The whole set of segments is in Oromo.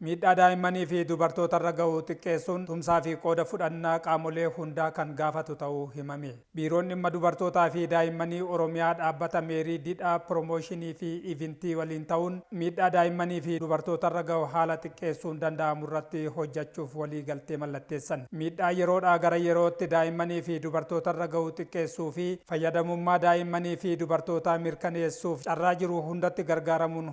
Miidhaa daa'immanii fi dubartootarra gahu xiqqeessuun tumsaa fi qooda fudhannaa qaamolee hundaa kan gaafatu ta'uu himame. Biiroon Dhimma Dubartootaa fi Daa'immanii Oromiyaa Dhaabbata Meerii Didhaa Piroomooshinii fi Ivintii waliin ta'uun miidhaa daa'immanii fi dubartootarra gahu haala xiqqeessuun danda'amurratti hojjachuuf walii galtee mallatteessan. Miidhaa yeroodhaa gara yerootti daa'immanii fi dubartootarra gahu xiqqeessuu fi fayyadamummaa daa'immanii fi dubartootaa mirkaneessuuf carraa jiru hundatti gargaaramuun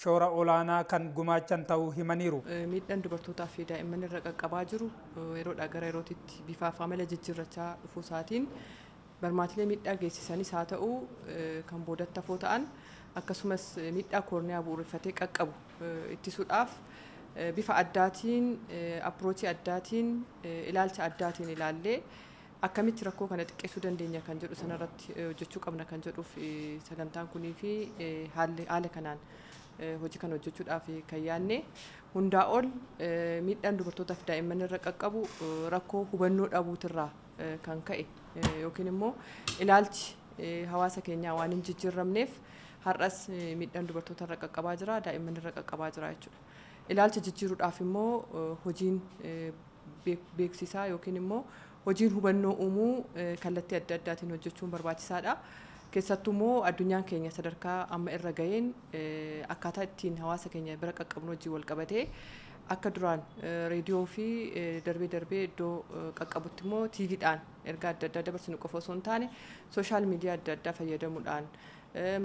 shoora olaanaa kan gumaachan ta'uu himaniiru. Miidhaan dubartootaa fi daa'imman irra qaqqabaa jiru yeroodhaa gara yerootitti bifaa fi amala jijjiirrachaa dhufuu isaatiin barmaatilee miidhaa geessisanis haa ta'u kan boodatti hafoo ta'an akkasumas miidhaa koorniyaa bu'uureffatee qaqqabu ittisuudhaaf bifa addaatiin approachii addaatiin ilaalcha addaatiin ilaallee Akkamitti rakkoo kana xiqqeessuu dandeenya kan jedhu sanarratti hojjechuu qabna kan jedhuuf sagantaan kunii fi haalli haala kanaan hojii kana hojjechuudhaaf kan yaadne hundaa ol miidhaan dubartootaaf daa'imman irra qaqqabu rakkoo hubannoo dhabuutirraa kan ka'e yookiin immoo ilaalchi hawaasa keenyaa waan hin jijjiirramneef har'as miidhaan dubartoota irra qaqqabaa jira daa'imman irra qaqqabaa jira jechuudha. Ilaalcha jijjiiruudhaaf immoo hojiin beeksisaa yookiin immoo hojiin hubannoo uumuu kallattii adda addaatiin hojjechuun barbaachisaadha. Keessattuu immoo addunyaan keenya sadarkaa amma irra ga'een akkaataa ittiin hawaasa keenya bira qaqqabnu wajjin wal qabatee akka duraan reediyoo fi darbee darbee iddoo qaqqabutti immoo tiiviidhaan ergaa adda addaa dabarsinu qofa osoo hin taane sooshaal miidiyaa adda addaa fayyadamuudhaan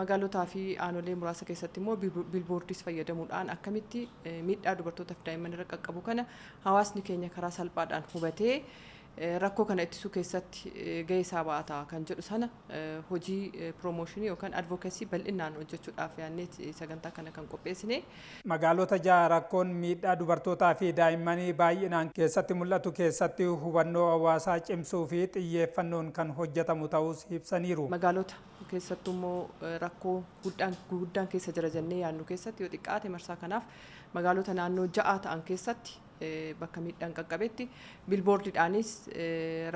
Magaalotaa fi aanolee muraasa keessatti immoo biilboordiis fayyadamuudhaan akkamitti miidhaa dubartootaa fi daa'imman irra qaqqabu kana hawaasni keenya karaa salphaadhaan hubatee rakkoo kana ittisuu keessatti gahee isaa ba'ata kan jedhu sana hojii piroomooshinii yookaan advookasii bal'inaan hojjechuudhaaf yaadnee sagantaa kana kan qopheessine. Magaalota ja'a rakkoon miidhaa dubartootaa fi daa'immanii baay'inaan keessatti mul'atu keessatti hubannoo hawaasaa cimsuu fi xiyyeeffannoon kan hojjetamu ta'uus ibsaniiru. Magaalota Keessattuu immoo rakkoo guddaan keessa jira jennee yaadnu keessatti yoo xiqqaate marsaa kanaaf magaalota naannoo ja'aa ta'an keessatti bakka miidhaan qaqqabetti bilboordiidhaanis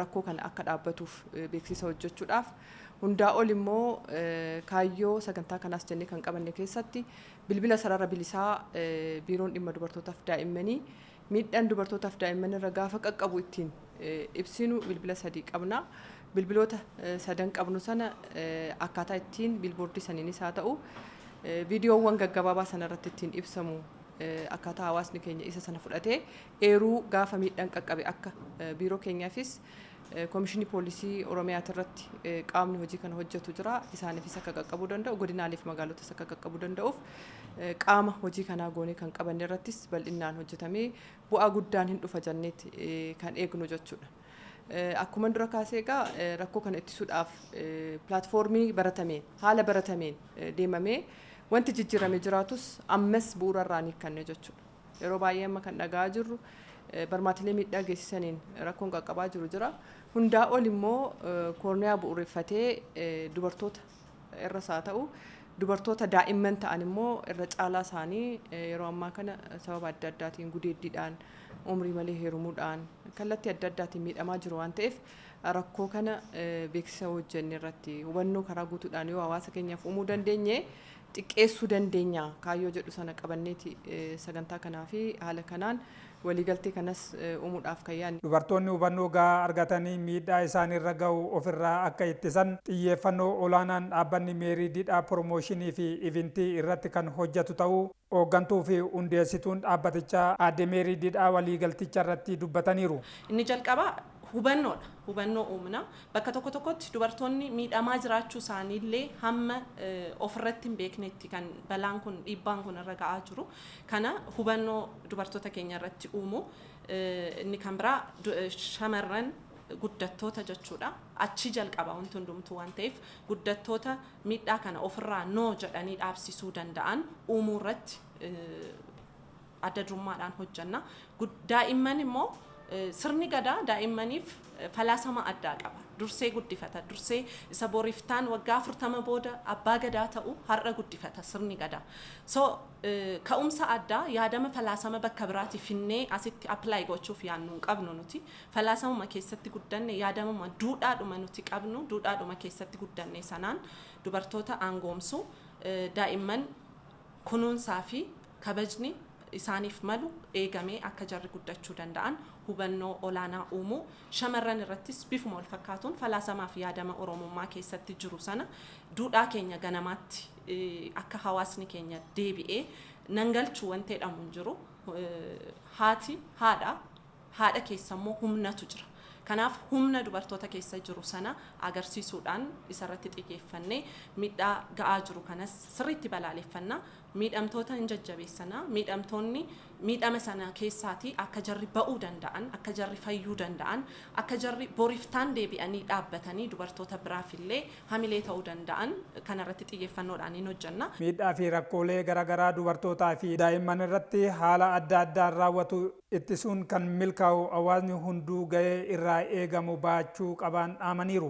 rakkoo kana akka dhaabbatuuf beeksisa hojjechuudhaaf hundaa ol immoo kaayyoo sagantaa kanaas jennee kan qabanne keessatti bilbila sarara bilisaa biiroon dhimma dubartootaaf daa'immanii Miidhaan dubartootaaf daa'imman irra gaafa qaqqabu ittiin ibsinu bilbila sadii qabna. Bilbiloota sadan qabnu sana akkaataa ittiin biilboordii saniinis haa ta'u viidiyoowwan gaggabaabaa sana irratti ittiin ibsamu akkaataa hawaasni keenya isa sana fudhatee eeruu gaafa miidhaan qaqqabe akka biiroo keenyaafis Komishinii Poolisii Oromiyaatirratti qaamni hojii kana hojjetu jira. Isaaniifis akka qaqqabuu danda'u, godinaalee fi magaalotas akka qaqqabuu danda'uuf qaama hojii kanaa goonee kan qabanne irrattis bal'innaan hojjetamee bu'aa guddaan hin dhufa jenneeti kan eegnu jechuudha. Akkuman dura kaasee egaa rakkoo kana ittisuudhaaf pilaatfoormii baratameen, haala baratameen deemamee wanti jijjiirame jiraatus ammas bu'uura irraa hin hiikkanne jechuudha. Yeroo baay'ee amma kan dhaga'aa jirru barmaatilee miidhaa geessisaniin rakkoon qaqqabaa jiru jira. Hundaa ol immoo koorniyaa bu'uureffatee dubartoota irras haa ta'u dubartoota daa'imman ta'an immoo irra caalaa isaanii yeroo ammaa kana sababa adda addaatiin gudeeddiidhaan umrii malee heerumuudhaan kallattii adda addaatiin miidhamaa jiru waan ta'eef rakkoo kana beeksisa hojjenne irratti hubannoo karaa guutuudhaan yoo hawaasa keenyaaf uumuu dandeenye xiqqeessuu dandeenya kaayyoo jedhu sana qabanneeti sagantaa kanaa fi haala kanaan waliigaltee kanas uumuudhaaf kan yaadne. Dubartoonni hubannoo gahaa argatanii miidhaa isaanirra gahu ofirraa akka ittisan xiyyeeffannoo olaanaan dhaabbanni Meerii Didhaa Piroomooshinii fi Ivintii irratti kan hojjatu ta'uu Hooggantuu fi Hundeessituun dhaabbatichaa Aadde Meerii Didhaa waliigalticharratti dubbataniiru. Inni jalqabaa hubannoodha. Hubannoo uumna. Bakka tokko tokkotti dubartoonni miidhamaa jiraachuu isaaniillee hamma ofirratti hin beeknetti kan balaan kun, dhiibbaan kun irra ga'aa jiru. Kana hubannoo dubartoota keenya irratti uumuu. Inni kan biraa shamarran guddattoota jechuudha. Achii jalqaba wanti hundumtuu waan ta'eef guddattoota miidhaa kana ofirraa no jedhanii dhaabsisuu danda'an uumuu irratti adda durummaadhaan hojjenna. Daa'imman immoo sirni gadaa daa'immaniif falaasama addaa qaba. Dursee guddifata. Dursee isa bor iftaan waggaa afurtama booda abbaa gadaa ta'u har'a guddifata sirni gadaa. So ka'umsa addaa yaadama falaasama bakka biraatii finnee asitti apply gochuuf yaannu hin qabnu nuti. Falaasamuma keessatti guddanne yaadamuma duudhaadhuma nuti qabnu duudhaadhuma keessatti guddanne sanaan dubartoota aangoomsu daa'imman kunuunsaa fi kabajni isaaniif malu eegamee akka jarri guddachuu danda'an hubannoo olaanaa uumuu, shamarran irrattis bifuma walfakkaatuun falaasamaa fi yaadama Oromummaa keessatti jiru sana duudhaa keenya ganamaatti akka hawaasni keenya deebi'ee nan galchu wanti jedhamu hin jiru. Haati haadha. Haadha keessa immoo humnatu jira. Kanaaf humna dubartoota keessa jiru sana agarsiisuudhaan isarratti xiyyeeffannee miidhaa ga'aa jiru kanas sirriitti balaaleffanna. Miidhamtoota in jajjabeessana. Miidhamtoonni miidhama sana keessaatii akka jarri ba'uu danda'an, akka jarri fayyuu danda'an, akka jarri boriftaan deebi'anii dhaabbatanii dubartoota biraaf illee hamilee ta'uu danda'an kanarratti xiyyeeffannoodhaan in hojjenna. Miidhaa fi rakkoolee gara garaa dubartootaa fi daa'imman irratti haala adda addaan raawwatu. ittisuun kan milkaa'u hawaasni hunduu gahee irraa eegamu bahachuu qabaan dhaamaniiru.